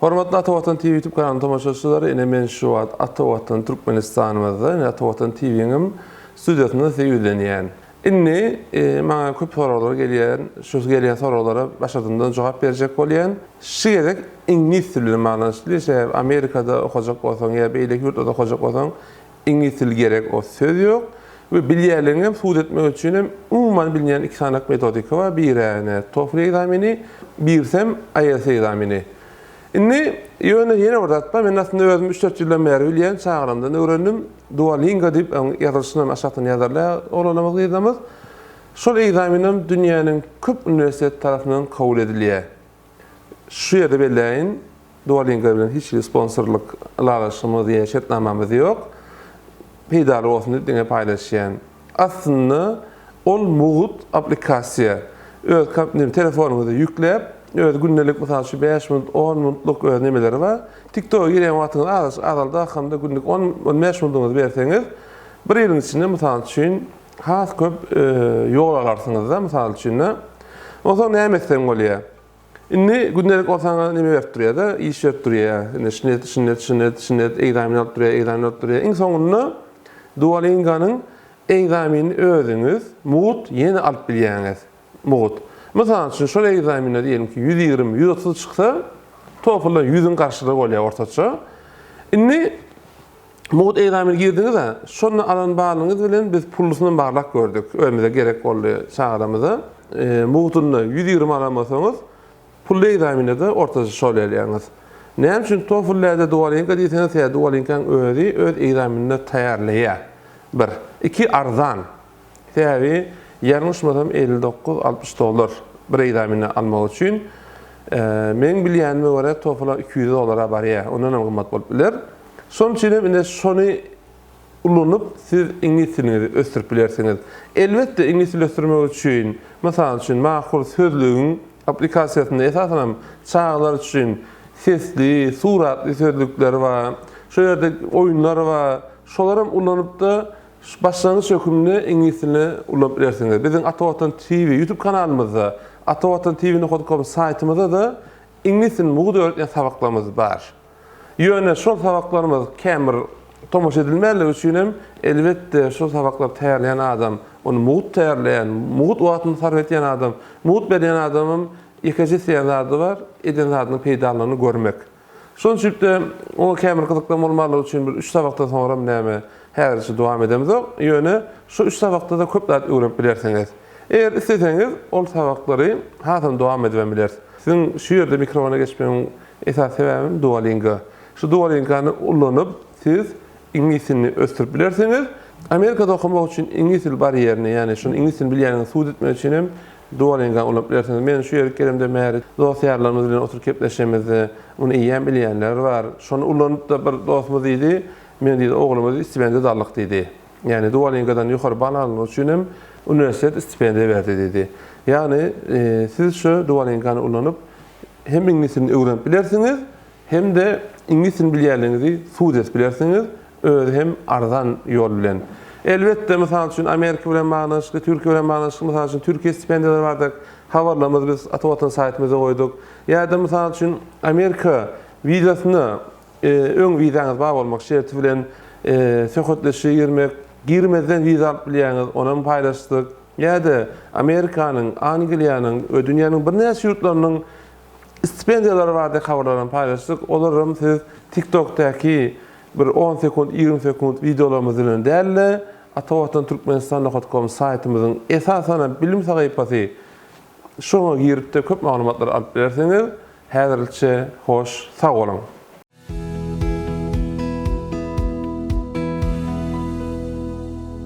Hormatly Ata Watan TV YouTube kanalynyň tomaşaçylary, ine men şu wagt Ata Watan Türkmenistanymyzda, ine Ata Watan TV-niň hem studiýasynda size ýüzlenýän. Indi e, maňa köp soraglar gelýän, şu gelýän soraglara başardymdan jogap berjek bolýan. Şu gezek iňlis dili bilen baglanyşykly, sebäbi Amerikada okajak bolsaň ýa beýleki ýurtlarda okajak bolsaň, Iňlisdil gerek o söz yok we bilýärligiňem subut etmek üçinem umuman bilinýän iki sanak metodika bar birane TOEFL ekzameni birsem IELTS ekzameni indi ýöne ýene bir zat bar men aslynda özüm üç dört ýyldan bäri bilýän çagrymdan öwrendim duolingo diýip oň ýazylyşynam aşakdan ýazarlar oglanymyz gyzymyz şol ekzamenem dünýäniň köp uniwersitet tarapyndan kabul edilýär Şu ýerde belläýin, Duolingo bilen hiç hili sponsorlyk ylalaşygymyz ýa şertnamamyz ýok. Peýdaly bolsun diýip diňe paýlaşýan. Aslynda ol mugt aplikasiýa. Öz kompýuteriňize, telefonyňyza ýükläp, öz gündelik mysal şu bäş minut, on minutluk öz nemeleri bar. Tiktoga girýän wagtyňyz azaldak hamda günlük on, on bäş minutyňyzy berseňiz, bir ýylyň içinde mysal üçin, Has köp ýol alarsyňyz-da, mysal üçin-de. Onsoň näme etseň bolýar? Indi gündelik bolsa saňa neme berip durýar-da, iş berip durýar. Indi şuny et, şuny et, şuny et, şuny et, ekzamen alyp durýar, ekzamen alyp durýar. Iň soňunda Duolingo-nyň ekzamenini özüňiz, mugt, ýene alyp bilýäňiz. Mugt. Mysal üçin, şol ekzamende diýelim ki, ýüz ýigrimi, ýüz otuz çyksa, TOEFL-dan ýüzüň garşyda bolýar ortaça. Indi Mugt egzameni girdiňiz-ä, şonda alan balyňyz bilen biz pullysynam barlap gördük, özümize gerek boldy, çagalarymyza. Mugtunda ýüz ýigrimi alan bolsaňyz, pully egzaminde-de ortaça şol elýäňiz. Näme üçin TOEFL-lä-de Duolingo diýseňiz, ýa Duolingo-nyň özi öz egzaminini taýýarlaýar. Bir. Iki, arzan. Täri ýalňy şmasam elli dokuz altmyş dollar bir egzamini almak üçin. Meniň bilýänime görä TOEFL-a iki ýüz dollara barýar, ondanam gymmat bolup biler. Şonuň üçin hem ine şony ulanyp siz iňlis diliňizi ösdürip bilersiňiz. Elbetde iňlis dili ösdürmek üçin mysal üçin Mahur sözlügiň aplikasiýasynda esasanam çagalar üçin sesli, suratly sözlükler bar. Şo ýerde oýunlar bar. Şolaram ulanypda Şu başlangyç hökümde iňlis dilini ulanyp bilersiňiz. Biziň Ata Watan TV YouTube kanalymyzda, Ata Watan TV nokta com saýtymyzda-da iňlis dilini mugt öwretýän sabaklarymyz bar. Ýöne şol sabaklarymyz kän bir tomaşa edilmänligi üçin hem, elbetde, şol sabaklary taýýarlaýan adam, ony mugt taýýarlaýan, mugt wagtyny sarp etýän adam, mugt berýän adamyň ýekeje isleýän zady bar, eden zadynyň peýdalynyny görmek. Şonçülikde, oňa käbir gyzyklan bolmarlygy üçin bir üç sabakdan soňram näme, häzirçe dowam edemzok, ýöne şu üç sabakda-da köp zat öwrenip bilersiňiz. Eger isleseňiz, ol sabaklary hasam dowam edibem bileris. Siziň şu ýerde mikrofona geçmegiň esasy sebäbim Duolingo. Şu Duolingany ullanyp, siz iňlis dilini ösdürip bilersiňiz. Amerikada okamak üçin iňlis dil barýerini, ýagny şuny iňlis dilini bilýändigiňizi subut etmek üçin hem Duolinga ulanyp bilersiňiz. Men şu ýere gelemden bäri dost-ýarlarymyz bilen oturyp gepleşemizde, muny eýýäm bilýänler bar. Şony ulanyp-da bir dostumyz diýdi, Men diýdi, ogluma diýdi, stipendiýa daldyk diýdi. Ýagny Duolingadan ýokary bal alnyny üçin hem uniwersitet stipendiýa berdi diýdi. Ýagny siz şu Duolingany ulanyp hem iňlis dilini öwrenip bilersiňiz, Hemde iňlis dilini bilýänligiňizi sud edip bilersiňiz, özi hem arzan ýol bilen. Elbetde, mysal üçin, Amerika bilen baglanyşykly, Türkiýe bilen baglanyşykly, mysal üçin, Türkiýe stipendiýalary bardak habarlarymyzy biz Ata Watan saýtymyzda goýduk. Ýa-da, mysal üçin, Amerika wizasyna öň wizaňyz bar bolmak şerti bilen söhbetdeşlige girmek, girmezden wiza alyp bilýäňiz, onam paýlaşdyk. Ýa-da, Amerikanyň, Angliýanyň we dünýäniň birnäçe ýurtlarynyň Stipendiýalary baradaky habarlaram paýlaşdyk. Olaram siz TikTokdaky bir on sekunt, ýigrimi sekunt wideolarymyz bilen däl-de, Atawatan Türkmenistan nokat kom saýtymyzyň esasanam bilim sahypasy şoňa girip-de köp maglumatlary alyp bilersiňiz. Häzirlikçe hoş sag boluň.